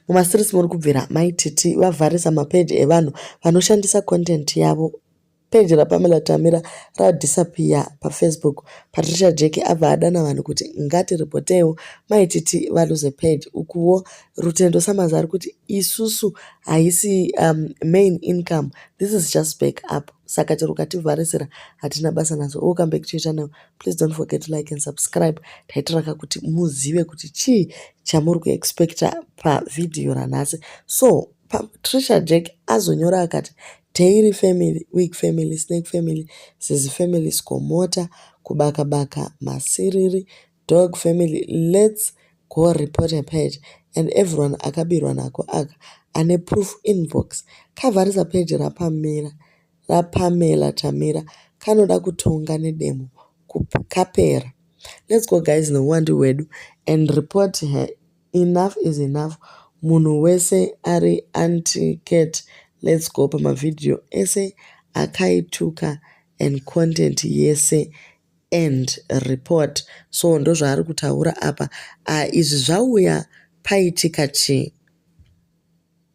Mumaseries muri kubvira mai Titi vavharisa mapeji evanhu vanoshandisa content yavo. Peji raPamela Tamira radisappear paFacebook. Patricia Jeke abva adana vanhu kuti ngatiripoteiwo mai Titi valuze page. Ukuwo Rutendo Samaza ari kuti isusu haisi um, main income. This is just back up. Saka chero ukativharisira hatina basa nazo. Welcome back to your channel. Please don't forget to like and subscribe. Taitiraka kuti muzive kuti chii chamuri kuexpecta pavhidhiyo ranhasi so patricia jack azonyora akati dairy family week family snake family zizi family skomota kubakabaka masiriri dog family lets go report a page and everyone akabirwa nako aka ane proof inbox kavharisa page rapamira raPamela Tamira kanoda kutonga nedemo kup kapera let's go guys nehuwandu hwedu and report her enough is enough munhu wese ari anti cat let's go pamavhidhiyo ese akaituka and content yese and report so ndozvaari kutaura apa uh, izvi zvauya paitika chii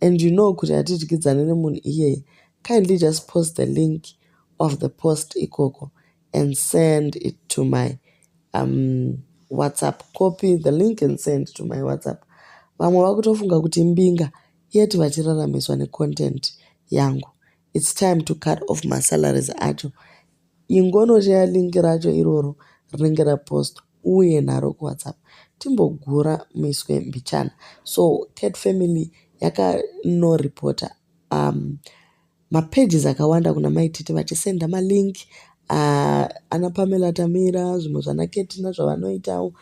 and you know kuti hatidyidzane nemunhu iyeye kindly just post the link of the post ikoko and send it to my um, whatsapp copy the link and send to my whatsapp vamwe vakutofunga kuti mbinga yet vachiraramiswa necontent yangu its time to cut off masalaries acho Ingonoshaya link racho iroro rinenge rapostwa uuye naro kuwhatsapp timbogura muiswe mbichana. So cat family yakanoreporter umm mapages akawanda kuna mai Tete vachisenda malink ana Pamela Tamira zvimwe zvana Kettina zvavanoitawo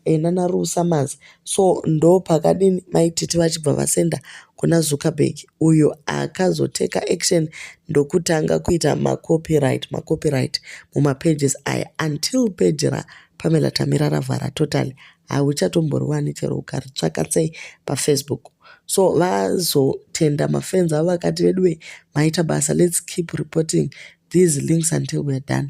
e nana Rue Summers so ndopakadini mai Titi vachibva vasenda kuna Zuckerberg uyo akazoteka action ndokutanga kuita macopyright macopyright mumapages aya until page raPamela Tamira ravhara totally hauchatomboriwani chero ukaritsvaka sei pafacebook so vazotenda mafans avo vakati veduwe maita basa let's keep reporting these links until weare done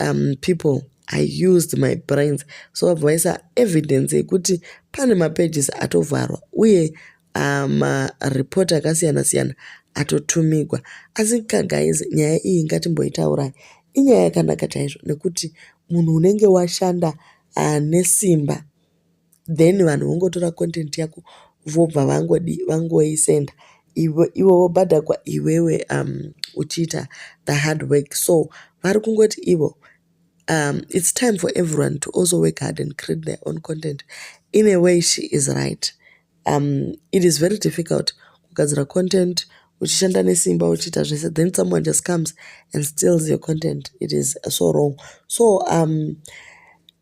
um, people i used my brains so vabva vaisa evidence yekuti pane mapages atovharwa uye uh, mareport akasiyana siyana atotumigwa asi kagaizi nyaya iyi ngatimboitaurai inyaya yakanaka chaizvo nekuti munhu unenge washanda uh, nesimba then vanhu vongotora content yako vobva vangodii vangoisenda ivo ivo vobhadhakwa iwewe um, uchiita the hard work so vari kungoti ivo um, it's time for everyone to also work hard and create their own content in a way she is right um, it is very difficult kugadzira content uchishanda nesimba uchiita zvese then someone just comes and steals your content it is so wrong so um,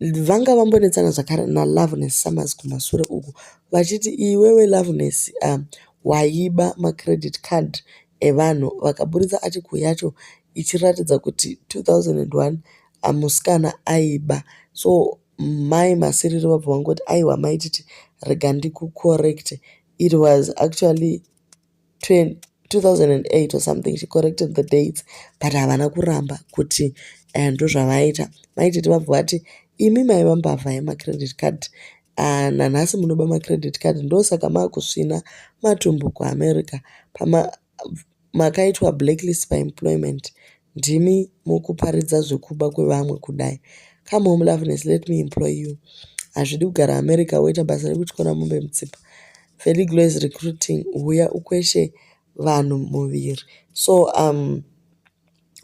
vanga vambonetsana zvakare naloveness summers kumasure uku vachiti iwewe loveness um, waiba macredit card evanhu vakaburitsa article yacho ichiratidza kuti 2001 amusikana aiba so Mai Masiriro vabva vangoti aiwa maititi rega ndikucorrecte it was actually 2008 or something she corrected the dates but havana kuramba kuti eh, ndozvavaita maititi vabva vati imi maiva mbavha yemacredit card Ah, nanhasi munoba macredit card ndosaka makusvina matumbu kuamerica makaitwa blacklist pa employment ndimi mukuparidza zvekuba kwevamwe kudai come home loveness let me employ you hazvidi kugara america woita basa rekutyora mombe mutsipa feliglo is recruiting huya ukweshe vanhu muviri so um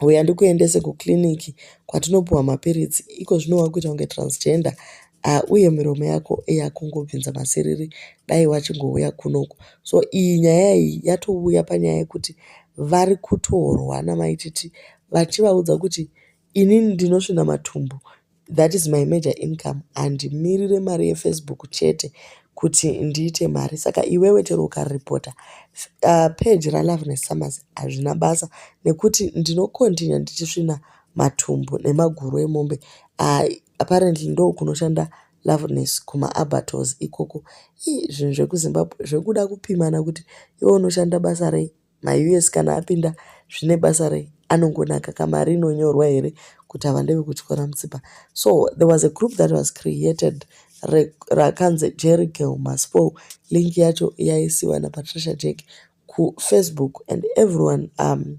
Huya ndikuendese kukiriniki kwatinopiwa mapiritsi. Iko zvino wakuita kunge transgender ah, uye miromo yako yakungobvinza masiriri dai wachingouya kunoku. So iyi nyaya iyi yatouya panyaya yekuti vari kutorwa namaititi vachivaudza kuti inini ndinosvina matumbu That is my major income handimirire mari yefacebook chete kuti ndiite mari saka iwewe chero ukaripota uh, page raloveness summers hazvina basa nekuti ndinokontinua ndichisvina matumbu nemaguru emombe uh, apparently ndo kunoshanda loveness kumaabatos ikoko ii zvinhu zvekuzimbabwe zvekuda kupimana kuti iwe unoshanda basa rei Ma us kana apinda zvine basa rei anongonaka ka mari inonyorwa here kuti ava ndevekutyora mutsipa so there was a group that was created rakanzi jerry girl maspo link yacho yaisiwa napatricia jack kufacebook and everyone um,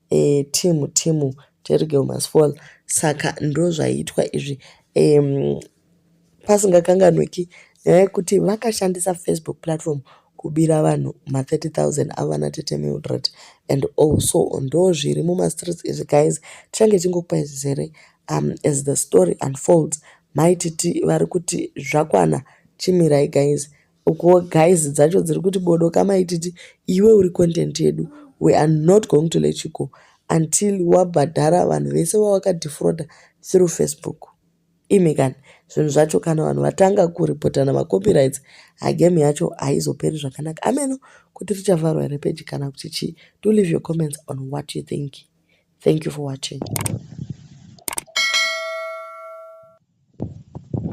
eh, team team jerry girl must fall saka ndozvaiitwa izvi um, pasingakanganwiki nyaya yekuti vakashandisa facebook platform kubira vanhu ma30000 avana tete mildred and also ndo zviri mumastreets izvi guys tichange chingokupai zvizere um, as the story unfolds maititi vari kuti zvakwana chimirai guys Ukuwo guys dzacho dziri kuti bodo kama ititi iwe uri content yedu we are not going to let you go until wabhadhara vanhu vese vawakadefrauda through Facebook. Imi kani zvinhu zvacho kana vanhu vatanga kuripotana macopyrights hagame yacho haizoperi zvakanaka ameno kuti richavharwa here peji kana kuti chii do leave your comments on what you think thank you for watching